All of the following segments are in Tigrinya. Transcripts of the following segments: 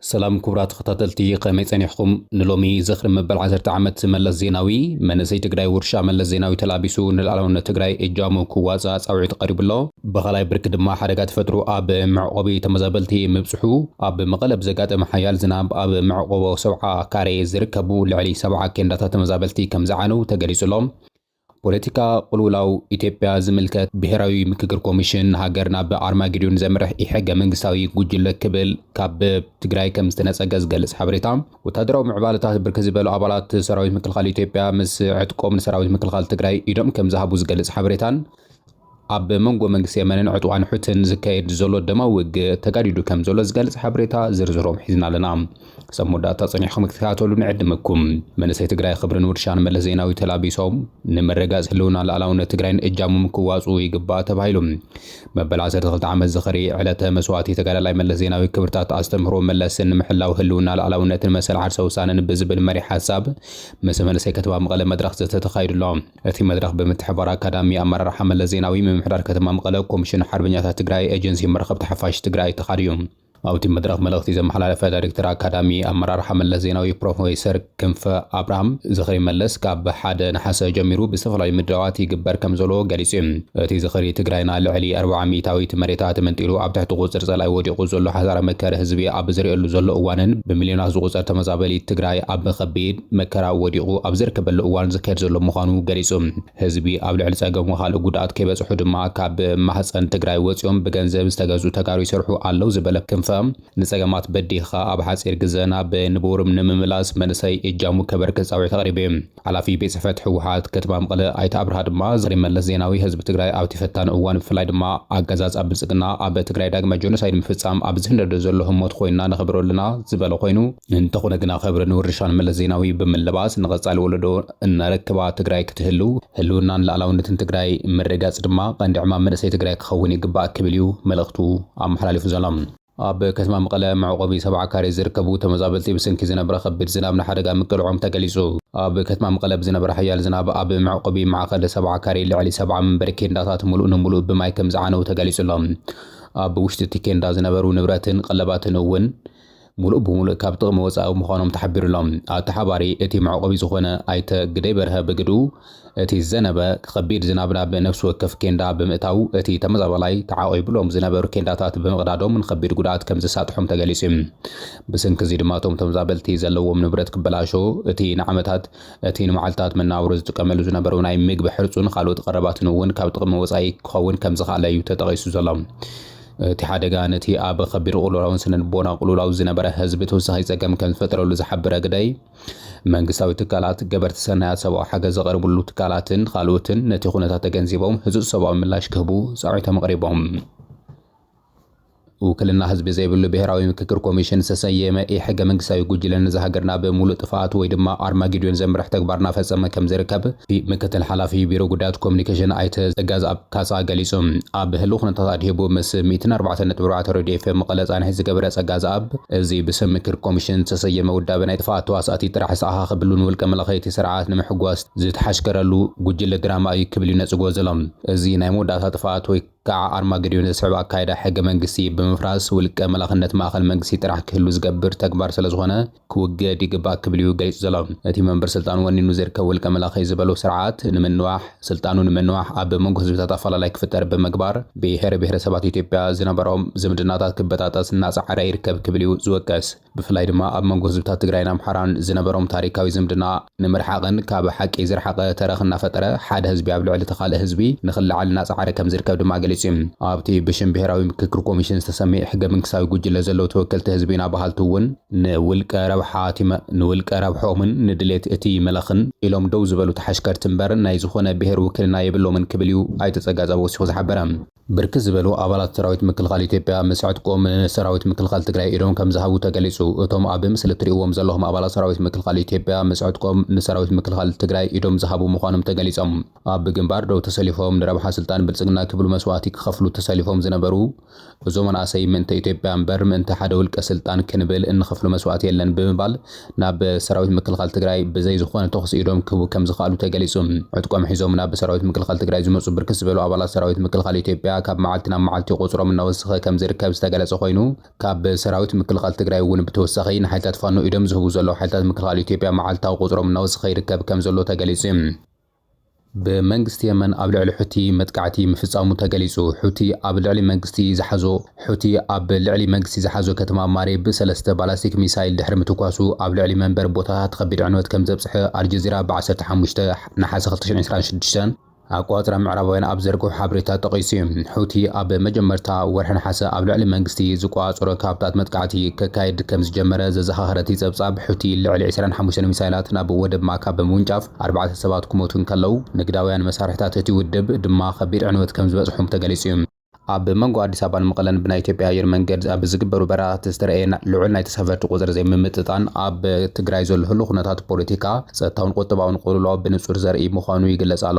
ሰላም ኩቡራት ተኸታተልቲ ከመይ ጸኒሕኹም ንሎሚ ዝኽሪ መበል ዓሰርተ ዓመት መለስ ዜናዊ መንእሰይ ትግራይ ውርሻ መለስ ዜናዊ ተላቢሱ ንልኣላውነት ትግራይ እጃሙ ክዋጻእ ጻዊዒት ቐሪቡ ኣሎ ብኻልኣይ ብርኪ ድማ ሓደጋ ተፈጥሮ ኣብ መዕቖቢ ተመዛበልቲ ምብጽሑ ኣብ መቐለ ብዘጋጠመ ሓያል ዝናብ ኣብ መዕቖቦ ሰብዓ ካሬ ዝርከቡ ልዕሊ ሰብዓ ኬንዳታት ተመዛበልቲ ከምዝዓነው ተገሊጹ ኣሎ ፖለቲካ ቁልውላው ኢትዮጵያ ዝምልከት ብሄራዊ ምክክር ኮሚሽን ሃገር ናብ ኣርማጌዶን ዘምርሕ ኢሕገ መንግስታዊ ጉጅለ ክብል ካብ ትግራይ ከም ዝተነፀገ ዝገልፅ ሓበሬታ ወታደራዊ ምዕባለታት ብርክት ዝበሉ ኣባላት ሰራዊት ምክልኻል ኢትዮጵያ ምስ ዕጥቆም ንሰራዊት ምክልኻል ትግራይ ኢዶም ከም ዝሃቡ ዝገልፅ ሓበሬታን ኣብ መንጎ መንግስቲ የመንን ዕጡቓን ሑትን ዝካየድ ዘሎ ደማዊ ውግእ ተጋዲዱ ከም ዘሎ ዝገልጽ ሓበሬታ ዝርዝሮም ሒዝና ኣለና። ክሳብ መወዳእታ ጸኒሕኩም ክትከታተሉ ንዕድመኩም። መንእሰይ ትግራይ ኽብርን ውርሻን መለስ ዜናዊ ተላቢሶም ንምርግጋጽ ህልውና ልኣላውነት ትግራይን እጃሙም ክዋጽኡ ይግባእ ተባሂሉ። መበል ዓሰርተ ክልተ ዓመት ዝኽሪ ዕለተ መስዋእቲ ተጋዳላይ መለስ ዜናዊ ክብርታት ኣስተምህሮ መለስን ንምሕላው ህልውና ልኣላውነትን መሰል ዓርሰ ውሳነን ብዝብል መሪሕ ሓሳብ ምስ መንእሰይ ከተማ መቐለ መድረኽ ዘተ ተኻይዱ ኣሎ። እቲ መድረኽ ብምትሕብባር ኣካዳሚ ኣመራርሓ መለስ ዜናዊ፣ ምምሕዳር ከተማ መቐለ፣ ኮሚሽን ሓርበኛታት ትግራይ፣ ኤጀንሲ መራኸብቲ ሓፋሽ ትግራይ ተኻድዩ። ኣብቲ መድረኽ መልእኽቲ ዘመሓላለፈ ዳይሬክተር ኣካዳሚ ኣመራርሓ መለስ ዜናዊ ፕሮፌሰር ክንፈ ኣብርሃም፣ ዝኽሪ መለስ ካብ ሓደ ነሓሰ ጀሚሩ ብዝተፈላለዩ ምድላዋት ይግበር ከምዘሎ ገሊፁ። እቲ ዝኽሪ ትግራይና ልዕሊ ኣርብዓ ሚኢታዊት መሬታ ተመንጢሉ ኣብ ትሕቲ ቁፅፅር ፀላኢ ወዲቑ ዘሎ ሓሳረ መከረ ህዝቢ ኣብ ዝርእየሉ ዘሎ እዋንን ብሚልዮናት ዝቑፀር ተመዛበሊት ትግራይ ኣብ ከቢድ መከራ ወዲቑ ኣብ ዝርከበሉ እዋን ዝካየድ ዘሎ ምዃኑ ገሊጹ። ህዝቢ ኣብ ልዕሊ ጸገሙ ካልእ ጉድኣት ከይበጽሑ ድማ ካብ ማህጸን ትግራይ ወጺኦም ብገንዘብ ዝተገዝኡ ተጋሩ ይሰርሑ ኣለው ዝበለ ክንፈ፣ ንጸገማት በዲህኻ ኣብ ሓጺር ግዘ ናብ ንቡር ንምምላስ መንእሰይ እጃሙ ከበርክት ጻውዒት ኣቕሪቡ እዩ። ሓላፊ ቤት ጽሕፈት ህወሓት ከተማ መቐለ ኣይተ ኣብርሃ ድማ ዛጊድ መለስ ዜናዊ ህዝቢ ትግራይ ኣብቲ ፈታኒ እዋን ብፍላይ ድማ ኣገዛዝኣ ብልጽግና ኣብ ትግራይ ዳግማይ ጆኖሳይድ ንምፍጻም ኣብ ዝህንደዶ ዘሎ ህሞት ኮይንና ነኽብሮ ኣለና ዝበለ ኮይኑ፣ እንተኾነ ግና ኸብሪ ንውርሻን መለስ ዜናዊ ብምልባስ ንቐፃሊ ወለዶ እነረክባ ትግራይ ክትህልው ህልውናን ልኣላውነትን ትግራይ ምርግጋፅ ድማ ቐንዲ ዕማም መንእሰይ ትግራይ ክኸውን ይግባእ ክብል እዩ መልእኽቱ ኣመሓላሊፉ ዘሎ። ኣብ ከተማ መቐለ መዕቖቢ ሰብዓ ካሬ ዝርከቡ ተመዛበልቲ ብስንኪ ዝነበረ ኸቢድ ዝናብ ንሓደጋ ምቅልዖም ተገሊፁ። ኣብ ከተማ መቐለ ብዝነበረ ሓያል ዝናብ ኣብ መዕቖቢ ማዕኸል ሰብዓ ካሬ ልዕሊ ሰብዓ መንበሪ ኬንዳታት ሙሉእ ንሙሉእ ብማይ ከምዝዓነው ተገሊፁ ኣሎ። ኣብ ውሽጢ እቲ ኬንዳ ዝነበሩ ንብረትን ቐለባትን እውን ሙሉእ ብሙሉእ ካብ ጥቕሚ ወፃኢ ምዃኖም ተሓቢሩ'ሎ። ኣተሓባሪ እቲ መዕቖቢ ዝኾነ ኣይተ ግደይ በርሀ ብግድኡ፣ እቲ ዝዘነበ ከቢድ ዝናብ ናብ ነፍሲ ወከፍ ኬንዳ ብምእታው እቲ ተመዛባላይ ተዓቚቡሎም ዝነበሩ ኬንዳታት ብምቕዳዶም ንከቢድ ጉድኣት ከምዘሳጥሖም ተገሊፁ ዩ። ብስንኪ እዚ ድማ እቶም ተመዛበልቲ ዘለዎም ንብረት ክበላሾ፣ እቲ ንዓመታት፣ እቲ ንመዓልታት መነባብሮ ዝጥቀመሉ ዝነበሩ ናይ ምግቢ ሕርፁን ኻልኦት ቐረባትን እውን ካብ ጥቕሚ ወፃኢ ክኸውን ከምዝኸኣለ ዩ ተጠቒሱ ዘሎ። እቲ ሓደጋ ነቲ ኣብ ኸቢድ ቕልውላውን ስነልቦናዊ ቕልውላው ዝነበረ ህዝቢ ተወሳኺ ፀገም ከምዝፈጠረሉ ዝሓበረ ግደይ፣ መንግስታዊ ትካላት፣ ገበርቲ ሰናያት፣ ሰብኣዊ ሓገዝ ዘቕርብሉ ትካላትን ኻልኦትን ነቲ ኹነታት ተገንዚቦም ህፁፅ ሰብኣዊ ምላሽ ክህቡ ፃውዒቶም ኣቕሪቦም። ውክልና ህዝቢ ዘይብሉ ብሄራዊ ምክክር ኮሚሽን ዝተሰየመ ኢሕገ መንግስታዊ ጉጅለ ነዛ ሃገር ናብ ሙሉእ ጥፍኣት ወይ ድማ ኣርማጌድዮን ዘምርሕ ተግባር እናፈፀመ ከምዝርከብ ምክትል ሓላፊ ቢሮ ጉዳያት ኮሙኒኬሽን ኣይተ ፀጋዝኣብ ካሳ ገሊጹ። ኣብ ህሉው ኩነታት ኣድሂቡ ምስ ሚእትን ኣርባዕተን ነጥቢ ኣርባዕተ ሬድዮ ኤፍኤም መቐለ ጻንሒት ዝገበረ ጸጋዝኣብ፣ እዚ ብስም ምክር ኮሚሽን ዝተሰየመ ውዳበ ናይ ጥፍኣት ተዋሳእቲ ጥራሕ ዝተኣኻኸብሉ ንውልቀ መለኸይቲ ስርዓት ንምሕጓስ ዝተሓሽከረሉ ጉጅለ ድራማ እዩ ክብል'ዩ ነጽግዎ ዘሎ። እዚ ናይ መወዳእታ ጥፍኣት ወይ ክኣ ኣርማገድዮን ዘስዕብ ኣካይዳ ሕገ መንግስቲ ብምፍራስ ውልቀ መላኽነት ማእከል መንግስቲ ጥራሕ ክህሉ ዝገብር ተግባር ስለዝኾነ፣ ክውገድ ይግባእ ክብል'ዩ ገሊጹ ዘሎ። እቲ መንበር ስልጣን ወኒኑ ዝርከብ ውልቀ መላኺ ዝበሎ ስርዓት ንምንዋሕ፣ ስልጣኑ ንምንዋሕ ኣብ መንጎ ህዝብታት ኣፈላላይ ክፍጠር ብምግባር ብሄር ብሄረሰባት ኢትዮጵያ ዝነበሮም ዝምድናታት ክበጣጠስ እናጸዓረ ይርከብ ክብል'ዩ ዝወቅስ። ብፍላይ ድማ ኣብ መንጎ ህዝብታት ትግራይን ኣምሓራን ዝነበሮም ታሪካዊ ዝምድና ንምርሓቕን ካብ ሓቂ ዝረሓቐ ተረኽ እናፈጠረ ሓደ ህዝቢ ኣብ ልዕሊ እቲ ካልእ ህዝቢ ንክለዓል እናፀዓረ ከምዝርከብ ድማ ገሊፁ እዩ። ኣብቲ ብሽም ብሄራዊ ምክክር ኮሚሽን ዝተሰምየ ሕገ-መንግስታዊ ጉጅለ ዘለዉ ተወከልቲ ህዝቢ ኢና በሃልቲ እውን፣ ንውልቀ ረብሓ እቲ ንውልቀ ረብሕኦምን ንድሌት እቲ መላኽን ኢሎም ደው ዝበሉ ተሓሽከርቲ እምበር ናይ ዝኾነ ብሄር ውክልና የብሎምን ክብል እዩ ኣይተ ፀጋፃብ ወሲኹ ዝሓበረ። ብርክት ዝበሉ ኣባላት ሰራዊት ምክልኻል ኢትዮጵያ ምስ ዕጥቆም ንሰራዊት ምክልኻል ትግራይ ኢዶም ከምዝሃቡ ተገሊፁ። እቶም ኣብ ምስሊ እትሪእዎም ዘለኹም ኣባላት ሰራዊት ምክልኻል ኢትዮጵያ ምስ ዕጥቆም ንሰራዊት ምክልኻል ትግራይ ኢዶም ዝሃቡ ምዃኖም ተገሊፆም። ኣብ ግንባር ደው ተሰሊፎም ንረብሓ ስልጣን ብልፅግና ክብሉ መስዋእቲ ክኸፍሉ ተሰሊፎም ዝነበሩ እዞም መናእሰይ ምእንተ ኢትዮጵያ እምበር ምእንተ ሓደ ውልቀ ስልጣን ክንብል እንኸፍሎ መስዋእቲ የለን ብምባል ናብ ሰራዊት ምክልኻል ትግራይ ብዘይ ዝኾነ ተኹሲ ኢዶም ክህቡ ከምዝኸኣሉ ተገሊፁ። ዕጥቆም ሒዞም ናብ ሰራዊት ምክልኻል ትግራይ ዝመፁ ብርክት ዝበሉ ኣባላት ሰራዊት ምክልኻል ኢትዮጵያ ካብ መዓልቲ ናብ መዓልቲ ቁፅሮም እናወሰኸ ከምዝርከብ ዝተገለፀ ኾይኑ፣ ካብ ሰራዊት ምክልኻል ትግራይ እውን ብተወሳኺ ንሓይልታት ፋኖ ኢዶም ዝህቡ ዘለዉ ሓይልታት ምክልኻል ኢትዮጵያ መዓልታዊ ቁፅሮም እናወሰኸ ይርከብ ከምዘሎ ተገሊፁ። ብመንግስቲ የመን ኣብ ልዕሊ ሑቲ መጥቃዕቲ ምፍጻሙ ተገሊጹ። ሑቲ ኣብ ልዕሊ መንግስቲ ዝሓዞ ሑቲ ኣብ ልዕሊ መንግስቲ ዝሓዞ ከተማ ማሪብ ሰለስተ ባላስቲክ ሚሳይል ድሕሪ ምትኳሱ ኣብ ልዕሊ መንበሪ ቦታታት ከቢድ ዕንወት ከምዘብጽሐ ኣልጀዚራ ብ ዓሰርተ ሓሙሽተ ነሓሰ ክልተ ሽሕን ዕስራን ሽዱሽተን ኣቆጻጽራ ምዕራባውያን ኣብ ዝዘርግሖ ሓበሬታ ጠቒሱ እዩ። ሑቲ ኣብ መጀመርታ ወርሒ ነሓሰ ኣብ ልዕሊ መንግስቲ ዝቆጻጸሮ ከባብታት መጥቃዕቲ ከካይድ ከምዝጀመረ ዘዘኻኸረ እቲ ጸብጻብ ሑቲ ልዕሊ ዕስራን ሓሙሽተን ሚሳይላት ናብ ወደብ ማካ ብምውንጫፍ ኣርባዕተ ሰባት ክሞቱ እንከለዉ፣ ንግዳውያን መሳርሒታት እቲ ውድብ ድማ ከቢድ ዕንወት ከም ዝበጽሖም ተገሊጹ እዩ። ኣብ መንጎ ኣዲስ ኣበባን መቐለን ብናይ ኢትዮጵያ ኣየር መንገድ ኣብ ዝግበሩ በረራታት ዝተረእየ ልዑል ናይ ተሳፈርቲ ቁጽሪ ዘይምምጥጣን ኣብ ትግራይ ዘሎ ህሉው ኩነታት ፖለቲካ፣ ጸጥታውን ቁጠባውን ቅልውላው ብንጹር ዘርእይ ምዃኑ ይግለጽ ኣሎ።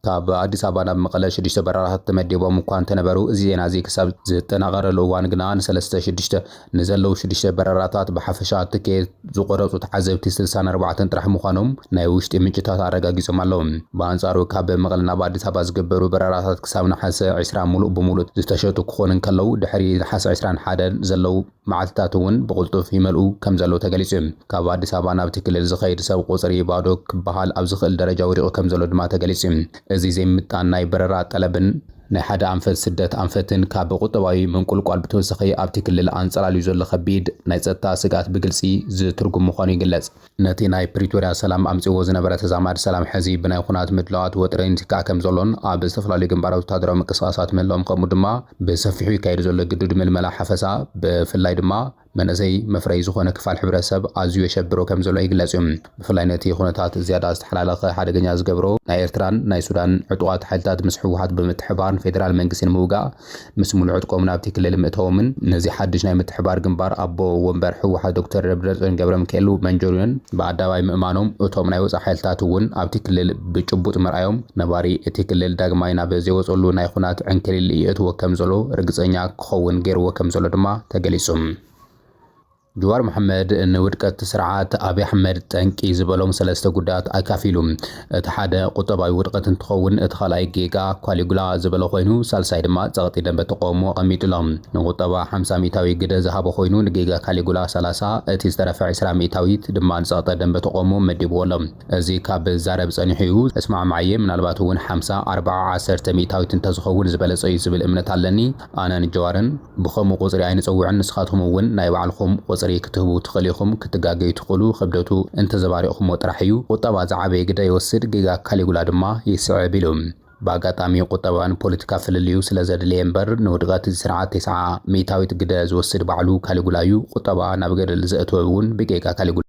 ካብ ኣዲስ ኣበባ ናብ መቐለ ሽዱሽተ በረራታት ተመዲቦም እኳ እንተነበሩ፣ እዚ ዜና'ዚ ክሳብ ዝጠናቐረሉ እዋን ግና ንሰለስተ ሽዱሽተ ንዘለዉ ሽዱሽተ በረራታት ብሓፈሻ ትኬት ዝቖረጹ ተዓዘብቲ ስልሳን ኣርባዕተን ጥራሕ ምዃኖም ናይ ውሽጢ ምንጭታት ኣረጋጊጾም ኣለዉ። ብኣንጻሩ ካብ መቐለ ናብ ኣዲስ ኣበባ ዝግበሩ በረራታት ክሳብ ነሓሰ ዕስራ ምሉእ ብምሉእ ዝተሸጡ ክኾኑ እንከለዉ፣ ድሕሪ ነሓሰ ዕስራን ሓደን ዘለዉ፣ መዓልቲታት እውን ብቕልጡፍ ይመልኡ ከም ዘለዉ ተገሊፁ እዩ። ካብ ኣዲስ ኣበባ ናብቲ ክልል ዝኸይድ ሰብ ቁፅሪ ባዶ ክበሃል ኣብ ዝኽእል ደረጃ ወዲቑ ከም ዘሎ ድማ ተገሊፁ እዩ። እዚ ዘይምምጥጣን ናይ በረራ ጠለብን፣ ናይ ሓደ ኣንፈት ስደት ኣንፈትን ካብ ቁጠባዊ ምንቁልቋል ብተወሳኺ ኣብቲ ክልል ኣንፀላልዩ ዘሎ ከቢድ ናይ ፀጥታ ስግኣት ብግልፂ ዝትርጉም ምዃኑ ይግለፅ። ነቲ ናይ ፕሪቶርያ ሰላም ኣምጺእዎ ዝነበረ ተዛማዲ ሰላም ሕዚ ብናይ ኹናት ምድላዋት ወጥሪ ይትካእ ከምዘሎን ኣብ ዝተፈላለዩ ግንባራት ወተሃደራዊ ምንቅስቓሳት ምህላዎም ከምኡ ድማ ብሰፊሑ ይካየድ ዘሎ ግዱድ ምልመላ ሓፈሳ ብፍላይ ድማ መንእሰይ መፍረዪ ዝኾነ ክፋል ሕብረተሰብ ኣዝዩ የሸብሮ ከምዘሎ ይግለጽ እዩ። ብፍላይ ነቲ ኹነታት ዝያዳ ዝተሓላለኸ ሓደገኛ ዝገብሮ ናይ ኤርትራን ናይ ሱዳንን ዕጡቓት ሓይልታት ምስ ህወሓት ብምትሕብባር ንፌደራል መንግስቲ ንምውጋእ ምስ ሙሉእ ዕጥቆም ናብቲ ክልል ምእታዎምን ነዚ ሓድሽ ናይ ምትሕብባር ግንባር ኣቦ ወንበር ህወሓት ዶክተር ደብረፅዮን ገብረሚካኤል መንጆርዮን ብኣደባባይ ምእማኖም እቶም ናይ ወፃኢ ሓይልታት እውን ኣብቲ ክልል ብጭቡጥ ምርኣዮም ነባሪ እቲ ክልል ዳግማይ ናብ ዘይወፀሉ ናይ ኹናት ዕንክሊል ይእትዎ ከምዘሎ ርግፀኛ ክኸውን ገይርዎ ከምዘሎ ድማ ተገሊፁ። ጅዋር መሓመድ ንውድቀት ስርዓት ኣብይ ኣሕመድ ጠንቂ ዝበሎም ሰለስተ ጉዳያት ኣካፊሉ። እቲ ሓደ ቁጠባዊ ውድቐት እንትኸውን፣ እቲ ካልኣይ ጌጋ ኳሊጉላ ዝበሎ ኮይኑ፣ ሳልሳይ ድማ ጸቕጢ ደንበ ተቐውሞ ኣቐሚጡ ኣሎ። ንቁጠባ ሓምሳ ሚእታዊ ግደ ዝሃቦ ኮይኑ፣ ንጌጋ ካሊጉላ ሰላሳ፣ እቲ ዝተረፈ ዕስራ ሚእታዊት ድማ ንጸቕጠ ደንበ ተቐውሞ መዲብዎ ኣሎ። እዚ ካብ ዛረብ ጸኒሑ እዩ። እስማዕማዕ'የ፣ ምናልባት'ውን ሓምሳ፣ ኣርባዓ፣ ዓሰርተ ሚእታዊት እንተዝኸውን ዝበለጸ'ዩ ዝብል እምነት ኣለኒ። ኣነን ጀዋርን። ብኸምኡ ቁጽሪ ኣይንጽውዕን ንስኻትኩም እውን ናይ ባዕልኹም ቁጽሪ ክትህቡ ትኽእሉ ኢኹም ክትጋገዩ ትኽእሉ ክብደቱ እንተዘባሪቕኩሞ ጥራሕ እዩ ቁጠባ ዝዓበየ ግደ ይወስድ ጌጋ ካሊጉላ ድማ ይስዕብ ኢሉ ብኣጋጣሚ ቁጠባ ንፖለቲካ ፍልልዩ ስለ ዘድለየ እምበር ንውድቐት እዚ ስርዓት ቴስዓ ሚእታዊት ግደ ዝወስድ ባዕሉ ካሊጉላ እዩ ቁጠባ ናብ ገደል ዘእተወ እውን ብጌጋ ካሊጉላ